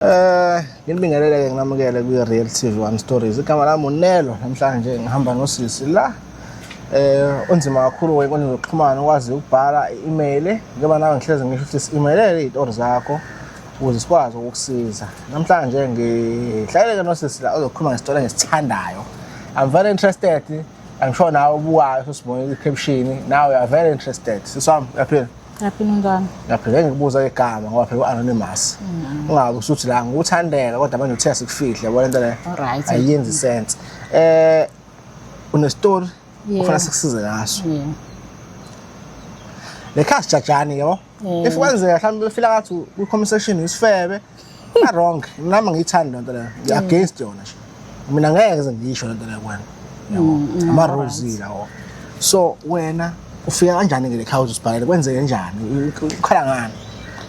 Eh nginibingelele ke nginamukele kwi Real TV One Stories. Igama lami uNelo namhlanje ngihamba nosisi la. Eh onzima kakhulu wenkundla zokuxhumana ukwazi ukubhala i-email ngoba nawe ngihleze ngisho ukuthi si-emailele izitori zakho ukuze sikwazi ukukusiza. Namhlanje ngihlaleleke nosisi la ozokhuluma ngesitori engisithandayo. I'm very interested. I'm sure nawe ubukayo sosibonile i-caption. Now you are very interested. Siswami uyaphila. Ngaphi ningane? Ngaphi ngeke ngikubuza igama ngoba phela anonymous. Mm. Ungabe usuthi la ngikuthandela kodwa manje uthe sikufihle yabo lento le. Alright. Ayenzi sense. Eh une story ufuna sikusize ngaso. Le khasi jajani yabo. If kwenzeka mhlawumbe befila ngathi ku conversation isifebe Una wrong. Nami ngiyithanda lento leyo. Ngi against yona nje. Mina ngeke ze ngisho lento leyo kwena. Yabo. Mm, Ama rules lawo. So wena ufika kanjani ke le house usibhalele kwenzeke njani? Ukhala ngani?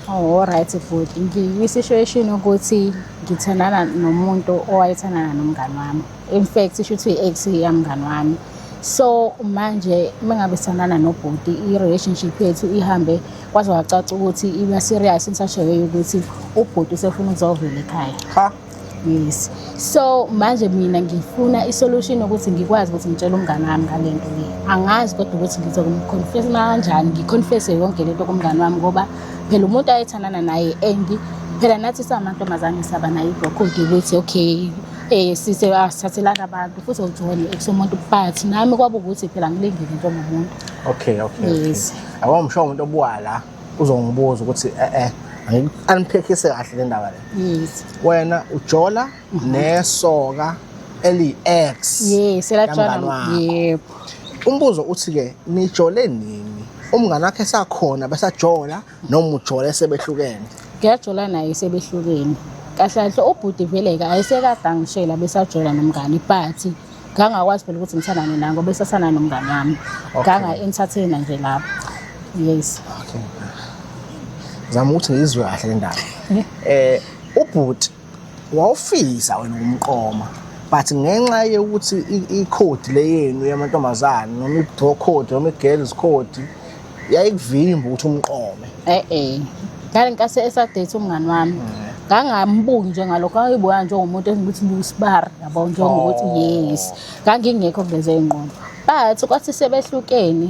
Oh right futhi ngiyisituation ukuthi ngithandana nomuntu owayethandana nomngane wami. in fact isho ukuthi i-ex yamngani wami so manje uma ngabe sanana nobhuti i-relationship yethu ihambe kwaze wacaca ukuthi iba serious insasheyo yokuthi ubhuti usefuna ukuzovela ekhaya ha yes so manje mina ngifuna isolution ukuthi ngikwazi ukuthi ngitshele umngane wami ngale nto le angazi kodwa ukuthi ngizokumconfess kanjani ngiconfesse yonke lento kumngane wami ngoba phela umuntu ayethandana naye and phela nathi samantombazane saba nayo ibhokho ukuthi okay Eh sise asithathelana abantu futhi ujone ekusomuntu but nami kwaba ukuthi phela ngilingile into ngomuntu. Okay okay. Yes. Awam sho umuntu obuwa la uzongibuza ukuthi eh eh aniphekhise kahle le ndaba le. Yes. Wena ujola mhm. nesoka eli ex. Yes, elajana. Yebo. Umbuzo uthi ke nijole nini? umngane wakhe sakhona besajola noma ujole sebehlukene ngiyajola naye sebehlukene kahle kahle ubhuti veleke ayisekade angishela besajola nomngani but ngangakwazi phela ukuthi ngithandane naye ngoba esasana nomngani wami nganga-entertaina nje lapho yes zama ukuthi ngiyizwe kahle le ndaba um ubhuti wawufisa wena umqoma but ngenxa yokuthi ikhodi leyenu yamantombazane noma ibdo code noma igirls code yayikuvimba ukuthi umqome eh eh ngale nkathi esadate umngani wami mm. ngangambuki nje ngalokho ayibuka nje ngomuntu engithi busbar yabo nje ngokuthi oh. yes ngangingekho kuleze ingqondo but kwathi sebehlukene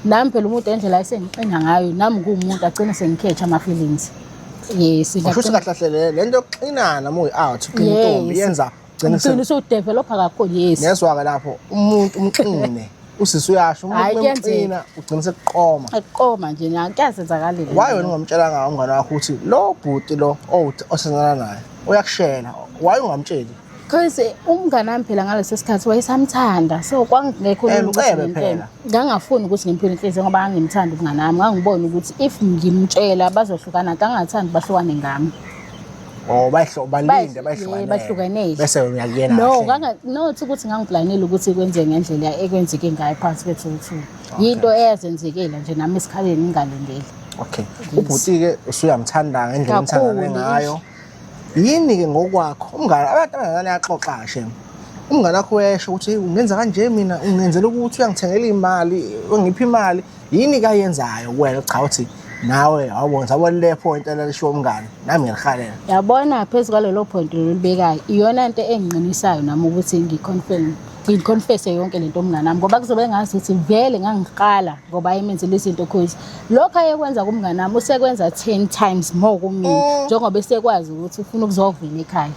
nami phela umuntu endlela ayisengiqina ngayo nami kuwumuntu agcine sengikhetha ama feelings yes usho ukuthi kahle kahle le- le nto yokuxinana uma uyi-out uxina Yes. intombi yenza ugcine ugcina se- usudevelopha kakhulu yes ngezwa-ke lapho umuntu umxine usisi uyasho umuntu Hhayi, uma kuyenzeka. emxina ugcine sekuqoma aqoma nje na kuyazenzakalile waye wena ungamtshelanga umngane wakho ukuthi lo bhuti lo owuthi- osenzana naye uyakushela waye ungamtsheli Cause eh, umngane wami phela ngaleso sikhathi wayesamthanda so kwangekho eh, ngicebe phela ngangafuni ukuthi ngimpile inhliziyo ngoba angimthanda umngane wami ngangibona ukuthi if ngimtshela bazohlukana kangathandi bahlukane ngami Oh bayihlo balinde bayihlukane bahlukanele bese uyakuyena No kanga not ukuthi ngangiplanile ukuthi kwenze ngendlela ekwenzeke ngayo phansi kwethu ukuthi yinto eyazenzekela nje nami esikhaleni ngingalindele Okay ubhuti ke usuyamthanda ngendlela omthanda ngayo Yini-ke ngokwakho umngane abantu abangane axoxa shem umngane wakho uyesho ukuthi ungenza kanje mina ungenzela ukuthi uyangithengela imali ungipha imali yini kayenzayo wena cha uthi nawe awubona sabona le point elalishiwo umngane nami ngiyalihalela yabona phezu kwalelo point lolibekayo iyona nto engqinisayo nami ukuthi ngiconfirm ngiconfese yonke lento umnganami ngoba kuzobe engazi ukuthi vele ngangiqala ngoba ayemenzile izinto cause lokho ayekwenza kumnganami usekwenza 10 times more kumina mm. njengoba esekwazi ukuthi ufuna ukuzovela ekhaya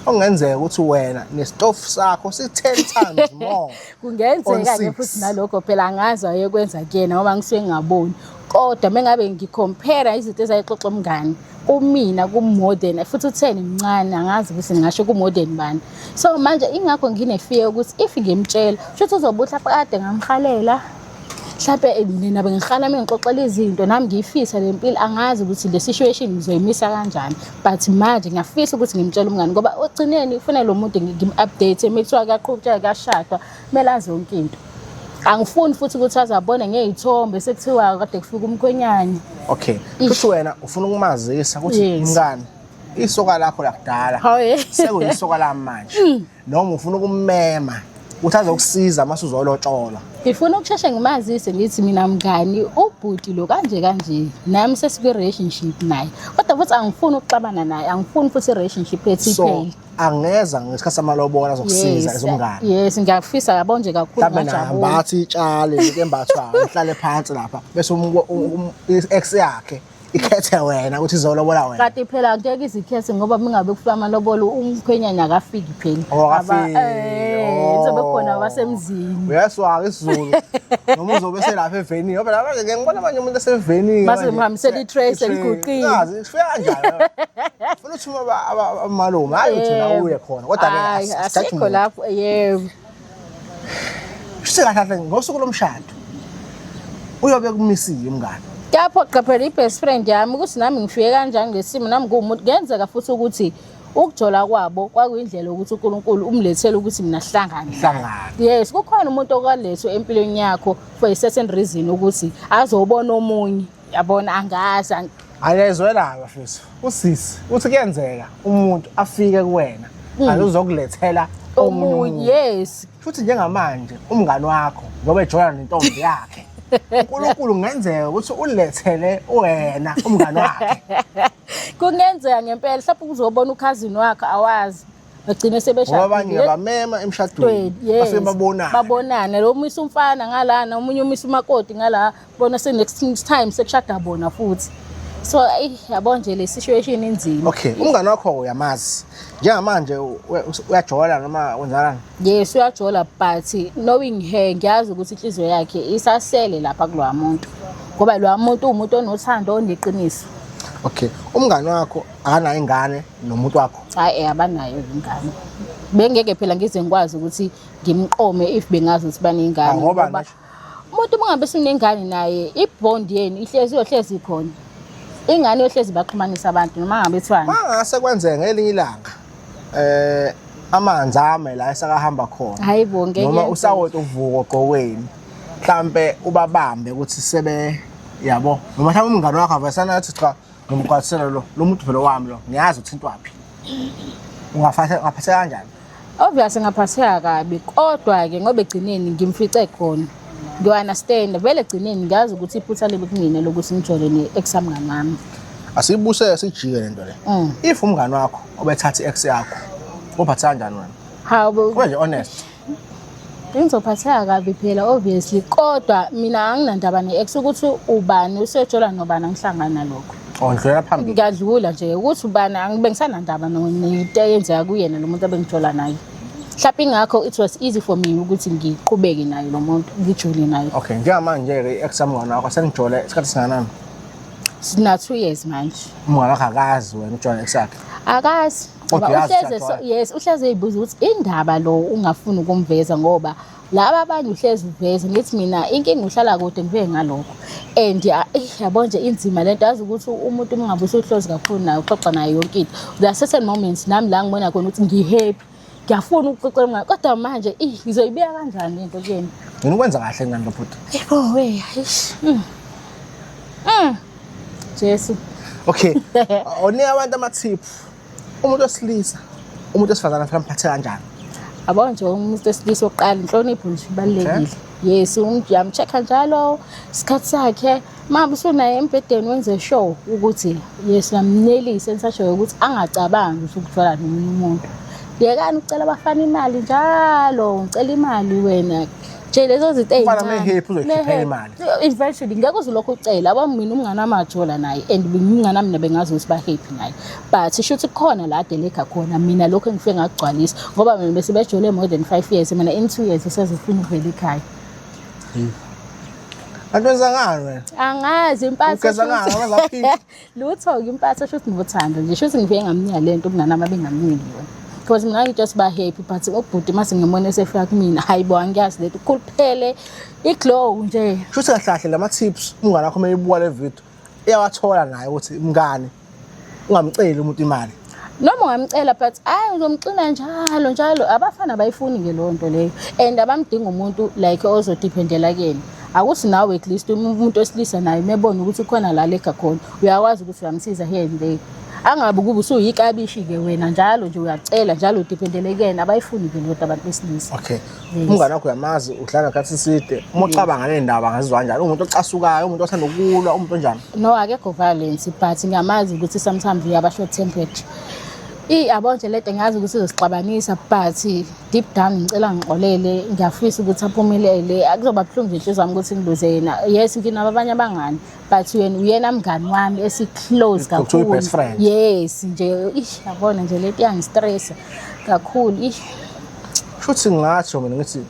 okungenzeka ukuthi wena nesitofu sakho si-ten times more kungenzeka ke futhi nalokho phela angazi wayekwenza kuyena ngoba ngisuke ngingaboni kodwa mengabe ngicompare izinto ezayixoxa umngane kumina kumodern futhi utheni mncane angazi ukuthi ngingasho kumodern bani so manje ingakho nginefear ukuthi if ngimtshela shuthi uzobuhla kade ngamhalela mhlawumbe eh, nina bengiqala uma ngixoxela izinto nami ngiyifisa le mpilo angazi ukuthi le situation ngizoyimisa kanjani but manje ngiyafisa ukuthi ngimtshele umngani ngoba ogcineni ufuna lo muntu ngim-update uma kuthiwa kuyaqhutsheka kuyashadwa kumele azi yonke into angifuni futhi ukuthi azabone ngey'thombe sekuthiwa kade kufika umkhwenyane okay futhi wena ufuna ukumazisa ukuthi mngani isoka lakho lakudala sekuyisoka lami manje mm. noma ufuna ukumema ukuthi azokusiza uma suzolotsholwa ngifuna ukusheshe ngimazise ngithi mina mngani ubhuti lo kanje kanje nami sesikwi-relationship naye kodwa futhi angifuni ukuxabana naye angifuni futhi i-relationship ethiphele so angeza ngesikhathi samalobola azokusiza Yes, ezomngane yes ngiyakufisa yabo nje kakhulu mhlawumbe naye ngajabula ambathi itshale into embathwayo uhlale phansi lapha bese umu- umu- i-ex yakhe ikhethe wena ukuthi izolobola wena kati phela ngeke izikhethe ngoba mingabe kufika amalobolo umkhwenyana akafiki phela Oh, akafiki. Aba- eh, Oh. kuzobe khona abasemzini uyaswaka isizulu noma uzobe selapha evenini ngoba lapha ngeke ngibona abanye umuntu esevenini Mase mhambisela i-trace eliguqile. ifika kanjalo Funa uthuma aba- aba- aba- amalume hayi uthi na Yebo. uye khona kodwa ke Hhayi, asi- asithathe asikho umuntu. lapho yebo Shuthi kahle kahle ngosuku lomshado uyobe kumisile umngane kuyaphoqa phela i-best friend yami ukuthi nami ngifike kanjani ngesimo nami nguwumuntu kuyenzeka futhi ukuthi ukujola kwabo kwakuyindlela yokuthi unkulunkulu umlethele ukuthi mina sihlangane hlangana yes kukhona umuntu okwalethwe empilweni yakho for a certain reason ukuthi azobona omunye yabona angazi ang- akezwela bafethu usisi uthi kuyenzeka umuntu afike kuwena kanti uzokulethela omunye omunye umuntu yes futhi njengamanje umngani wakho ngoba ejola nentombi yakhe unkulunkulu kungenzeka ukuthi ulethele wena umngani wakhe kungenzeka ngempela mhlawumbe uzobona ukhazini wakhe awazi bagcine sebeshadile abanye ngabamema emshadweni base babonana babonana lo umisa umfana ngalana omunye umisa umakoti ngala bona se next time sekushada bona futhi so ayi yabo nje le situation inzima okay umngane wakho uyamazi njengamanje uyajola noma wenzalana yes uyajola but knowing her ngiyazi ukuthi inhliziyo yakhe isasele lapha kulowa muntu ngoba lowa muntu uwumuntu onothando oneqiniso okay umngane wakho akanayo ingane nomuntu wakho hayi eh, abanayo ingane bengeke phela ngize ngikwazi ukuthi ngimqome if bengazi ukuthi banengane ah, ngoba umuntu mungabe sinengane naye ibond yenu ihlezi yohlezi ikhona ingane yohlezi baxhumanisa abantu noma ngabe kuthiwani mangase kwenzeka ngelinye ilanga eh amanzi ame la esakahamba khona hayibo ngeke noma usawoti uvuko gqokweni mhlambe ubabambe ukuthi sebe yabo noma mhlawumbe umngane wakho avesana athi cha ngimgcwalisele lo lo muntu vele wami lo ngiyazi uthintwaphi ungaphatha ungaphatha kanjani obvious ngaphatheka kabi kodwa ke ngoba egcineni ngimfice khona ngiwa understand vele egcineni ngiyazi ukuthi iphutha libe kumina lokuthi ngijole ne ex amngane wami asibuse sijike lento le Mm. if umngane wakho obethatha i-ex yakho uphatha kanjani wena hawu Kube nje honest Ngizophatheka kabi phela obviously kodwa mina anginandaba ne-ex ukuthi ubani usejola nobani angihlangani nalokho. Ondlula phambili. Ngiyadlula nje ukuthi ubani angibe ngisanandaba no- nento eyenzeka kuyena lo muntu abengijola naye. Mhlawumbe ingakho it was easy for me ukuthi ngiqhubeke naye lo muntu ngijole naye. Okay, njengamanje-ke i-ex yami umngane wakho senijole isikhathi singanani? Sina two years manje. Umngane wakho akazi wena ujole i-ex yakhe. Akazi. Kodwa uyazi uhleze so- Shaqwayo. yes uhleze eyibuza ukuthi indaba lo ungafuni ukumveza ngoba laba abanye uhleze uveze ngithi mina inkinga uhlala kude ngibe ngalokho and ya- eyi, yabo nje inzima le nto yazi ukuthi umuntu uma ngabe usuhlozi kakhulu naye uxoxa naye yonke into there are certain moments nami la ngibona khona ukuthi ngihappy ngiyafuna ukuxoxa naye kodwa manje eyi, ngizoyibeka kanjani into kuyena Ngena ukwenza kahle ngani lo bhuti. yebo we eish, mm. Mm. Jesu. Okay. Onika abantu amathip. Umuntu wesilisa, umuntu wesifazana fanele amphathe kanjani? Abona nje umuntu wesilisa oqala inhlonipho nje ibalekile. Yes, umjam check njalo isikhathi sakhe. Mama usunaye embedeni wenze show ukuthi yes namnelise ensasho ukuthi angacabangi ukuthi ukuthola nomunye umuntu. Yekani ucela abafana imali njalo, ucela imali wena. nje lezo zinto Umfana ezincane. mehephi uzoyikhipha Mehephi. imali. eventually ngeke uze ulokhu ucela aba mina umnganamajola naye and bengingana mina bengazi ukuthi bahappy naye but sho ukuthi khona la deleka khona mina lokho engifike ngakugcwalisa ngoba mina bese bejole more than 5 years mina in 2 years usezifuna ukuvela ekhaya Antu wenzangani wena? angazi impatho Ugeza ngani? Waza phi? lutho-ke impatho shuthi ngothando nje shuthi ngifike ngamnika le nto umngane wami abengamniki yona because mina ngithe siba happy but ubhuti mase ngimona esefika kumina hayi bo angiyazi leto ukhuluphele iglow nje shuthi kahle kahle lama tips umngane wakho meyibuka le video iyawathola naye ukuthi mngane ungamceli umuntu imali noma ungamcela but hayi uzomxina njalo njalo abafana bayifuni ke leyo nto leyo and abamdinga umuntu like ozodiphendela kuyena akuthi nawe at least umuntu osilisa naye umebona ukuthi ukhona la lega khona uyakwazi ukuthi uyamsiza here and there angabe ukuba usuyikabishi-ke wena njalo nje uyacela njalo udiphendele kuyena abayifuni-ke lodwa abantu besilisa okay umngane wakho uyamazi uhlala ngathi side uma ucabanga le ndaba ngazizwa kanjani umuntu ocasukayo umuntu othanda ukulwa umuntu onjani no akekho violence but ngiyamazi ukuthi sometimes uyaba short tempered Ey yabo nje lento ngiyazi ukuthi izosixabanisa but deep down ngicela ngixolele ngiyafisa ukuthi aphumelele akuzoba buhlungu nje inhliziyo yami ukuthi ngibuze yena yes nginabo abanye abangani but yena uyena mngani wami esiclose kakhulu yes nje ish yabona nje lento iyangistressa kakhulu ish shuthi ngingasho mina ngithi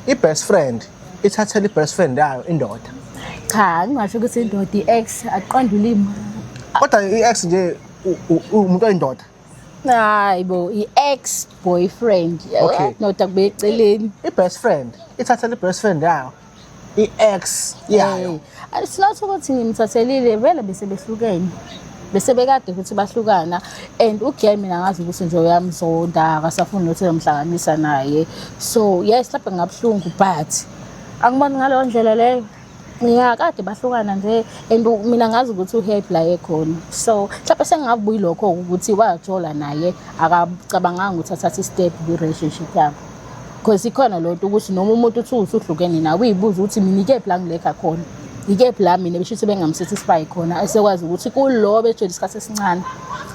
i-best friend ithathela i-best friend yayo indoda cha ngingasho ukuthi indoda i-ex aqonda ulimi kodwa i-ex nje umuntu oyindoda hayi bo i-ex boyfriend okay. ndoda kubeceleni i-best friend ithathela i-best friend yayo i-ex yayo Eh, it's not ukuthi ngimthathelile vele bese behlukene bese bekade ukuthi bahlukana and ugiy mina ngazi ukuthi nje uyamzonda akasafuni nokuthi ezomhlanganisa naye so yes lapho ngabuhlungu but angiboni ngaleyo ndlela leyo ya kade bahlukana nje and u- mina ngazi ukuthi uhappy la ekhona so mhlawumbe sengingabuyilokho ukuthi wajola naye akacabanganga ukuthi athathe istep kwi-relationship yabo Because ikhona lonto ukuthi noma umuntu uthi usuhlukene nawe uyibuza ukuthi mina ikephi la ngilekha khona. Ikephi la mina besho ukuthi bengamsithi sibayi khona esekwazi ukuthi kulo betshela isikhathi esincane.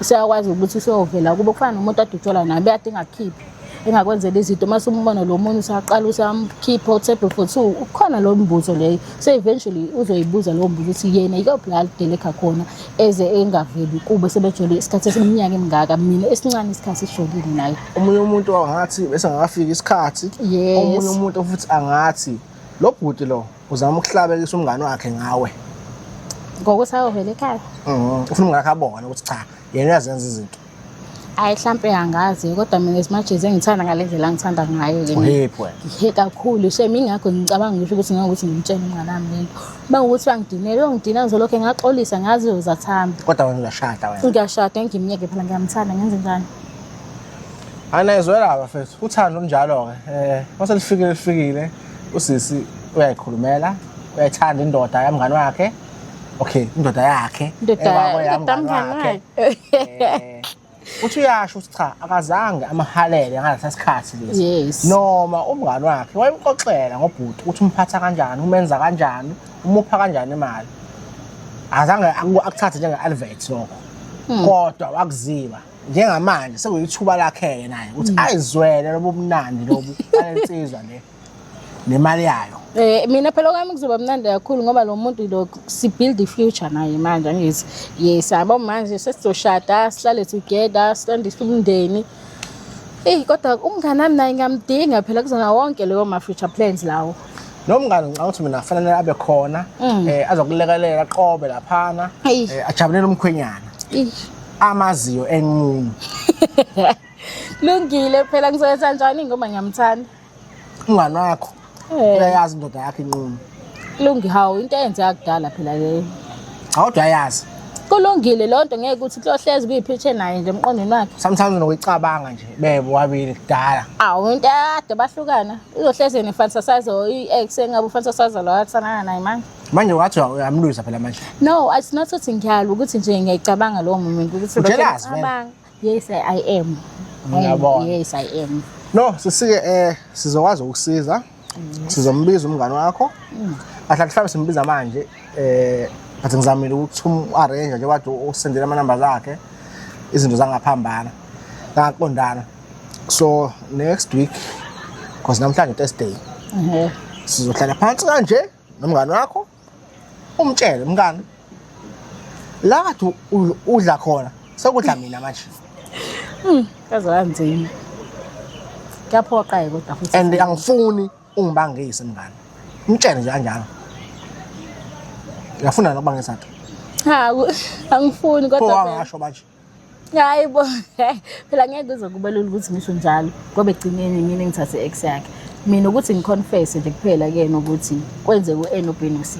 Useyakwazi ukuthi useyovela kubo kufana nomuntu adutshelwa naye bekade engakhiphi. engakwenzela izinto uma sumbona lo muntu usaqala usamkhipha uthebhe for two ukhona lo mbuzo leyo so eventually uzoyibuza lowo mbuzo ukuthi yena yikuphi la lidelekha khona eze engaveli kube sebejole isikhathi esiminyaka emingaka mina esincane isikhathi sijolile naye omunye umuntu angathi bese angakafika isikhathi Yes. omunye umuntu futhi angathi lo bhuti lo uzama ukuhlabekisa umngane wakhe ngawe ngokuthi ayovela ekhaya Mhm. ufuna umngane wakhe abone ukuthi cha yena uyazenza izinto hayi mhlampe angazi kodwa mina as much as engithanda ngale ndlela angithanda ngayo ke mina. uhephi wena He kakhulu shem ingakho ngicabanga ngisho ukuthi ngeke ukuthi ngimtshele umngane wami lento uma ukuthi bangidinele ongidina ngizolokhu ngaxolisa ngazi uzathambi kodwa wena uyashada wena ngiyashada ngimyeke phela ngiyamthanda ngenze njani anayizwela bafethu uthando njalo-ke eh, um mase lifikile lifikile usisi uyayikhulumela uyayithanda indoda yamngani wakhe okay indoda yakhe wakhe eh, uthi uyasho ukuthi cha akazange amahalele ngalesa sikhathi lesi noma umngani wakhe wayemxoxela ngobhuti ukuthi umphatha kanjani umenza kanjani umupha kanjani imali azange akuthathe njenge-advert lokho hmm. kodwa wakuziba njengamanje sekuyithuba lakhe-ke naye ukuthi mm. ayizwele lobu mnandi lobu balensizwa le nemali yayo Eh mina phela kwami kuzoba mnandi kakhulu ngoba lo muntu lo si build the future naye manje angithi yes yabo manje sesizoshada sihlale together sihlande umndeni Eh kodwa umngane nami naye ngamdinga phela kuzona wonke leyo ma future plans lawo nomngane ngicabanga ukuthi mina fanele abe khona um azokulekelela aqobe laphana um ajabulele umkhwenyana amaziyo enqunu lungile phela ngizoyenza njani ngoba ngiyamthanda umngane wakho eh. uyayazi indoda yakho inqunu lungi hawu into eyenzeka kudala phela leyo awudwa ayazi kulungile loo nto ngeke ukuthi kuyohlezi kuyiphitshe naye nje emqondweni wakhe sometimes nokuyicabanga nje bebo wabili kudala awu into yakade bahlukana uzohleze ne-fantasise or i-ex engabe ufantasise lo athanana naye manje manje wathi uyamlwisa phela manje no it's not ukuthi ngiyalwa ukuthi nje ngiyayicabanga lowo moment ukuthi Ujealous, man. abang- yes i am Ngiyabona. yes i am no sisike eh sizokwazi ukusiza sizombiza umngane wakho mm. ahle mhlawumbe simbiza manje eh ngathi ngizamile ukuthi umu-arrange nje kade usendela amanamba zakhe izinto zangaphambana zangaqondana so next week because namhlanje thursday sizohlala phansi kanje nomngane wakho umtshele mngane la kathi u- udla khona sekudla mina manje kaze kanzima kuyaphoqa-ke kodwa futhi and angifuni ungibangise mngane mtshele nje kanjalo uyafuna nokubangisa ke ha ku- angifuni pho kodwa phela. wangasho manje hayi bo phela ngeke kuzokuba lula ukuthi ngisho njalo ngoba egcineni mina ngithathe ex yakhe mina ukuthi ngiconfesse nje kuphela kuyena ukuthi kwenzeka u-n no-b no-c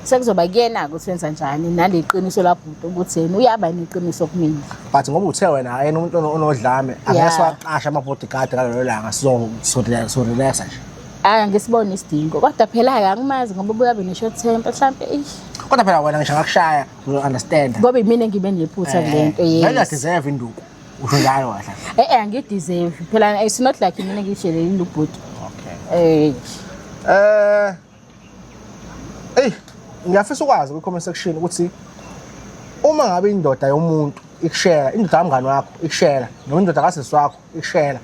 sekuzoba kuyena-ke ukuthi wenza njani nale qiniso labhuti ukuthi yena uyaba neqiniso kumina but ngoba uthe wena yena umuntu onodlame angeke siwaqashe ama-bodyguard ngalelo langa sizorelaxa nje hayi angisiboni isidingo kodwa phela-ke angimazi ngoba ubuyabe ne-short temper mhlawumpe ish kodwa phela wena ngisho ngakushaya You understand? Ngoba imina engibe nephutha kule eh, nto yes. Ngeke deserve induku. Usho njalo kahle. Eh eh angideserve. Phela it's not like imina ngishelele induku bhuti. Okay. Eh. Eh. Ey, ngiyafisa ukwazi kwi comment section ukuthi uma ngabe indoda yomuntu ikushela, indoda kamngani wakho ikushela, noma indoda kasisi wakho ikushela.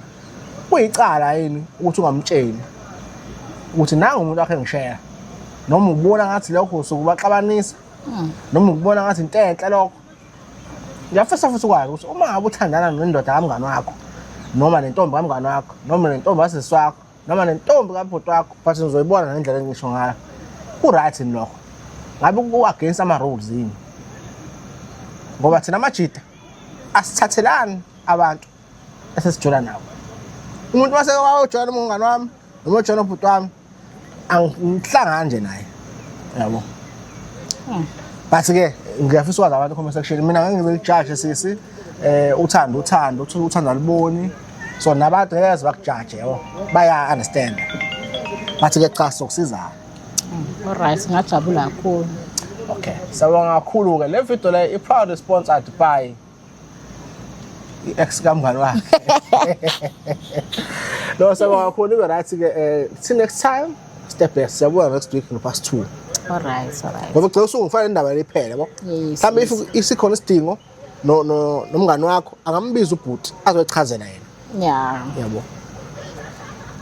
Kuyicala yini ukuthi ungamtsheli ukuthi nangu umuntu wakhe ngishela. Noma ubona ngathi lokho sokubaxabanisa noma ukubona ngathi into enhle lokho ngiyafisa futhi ukwazi ukuthi uma ngabe uthandana nendoda kamngani wakho noma nentombi kamngani wakho noma nentombi kasisi wakho noma nentombi kabhuti wakho but nizoyibona ngendlela engisho ngayo ku-right yini lokho ngabe ku-against ama-rules yini ngoba thina amajida asithathelani abantu esesijola nabo umuntu wasewajoyela umngani wami noma ojoyela ubhuti wami angihlangani nje naye yabo hmm. but ke ngiyafisa ukwazi abantu comment section mina ngeke ngibe lijaje sisi eh uthanda uthanda uthi uthanda liboni so nabantu ngeke bakujaje yabo baya understand but ke cha sokusizana hmm, all right ngajabula kakhulu okay sawubona kakhulu ke le video le i proud sponsor at by i-ex kamngani wakhe no sakakhona ibe right ke eh till next time step back siyabuya next week no past 2 all right all right ngoba gcela usungifana indaba lephele yabo Yes, mhlawumbe if isikhona isidingo no no nomngani wakho angambiza ubhuti azochazela yena yeah yabo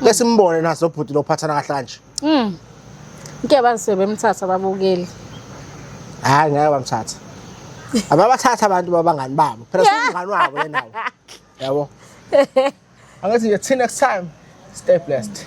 bese imbone naso ubhuti lophathana kahle kanje Mm. Ngeke bazise bemthatha babukeli. Hayi ngeke bamthatha. Ababathatha abantu babangani babo. Phela singani wabo yena. Yabo. Angathi you till next time. Stay blessed.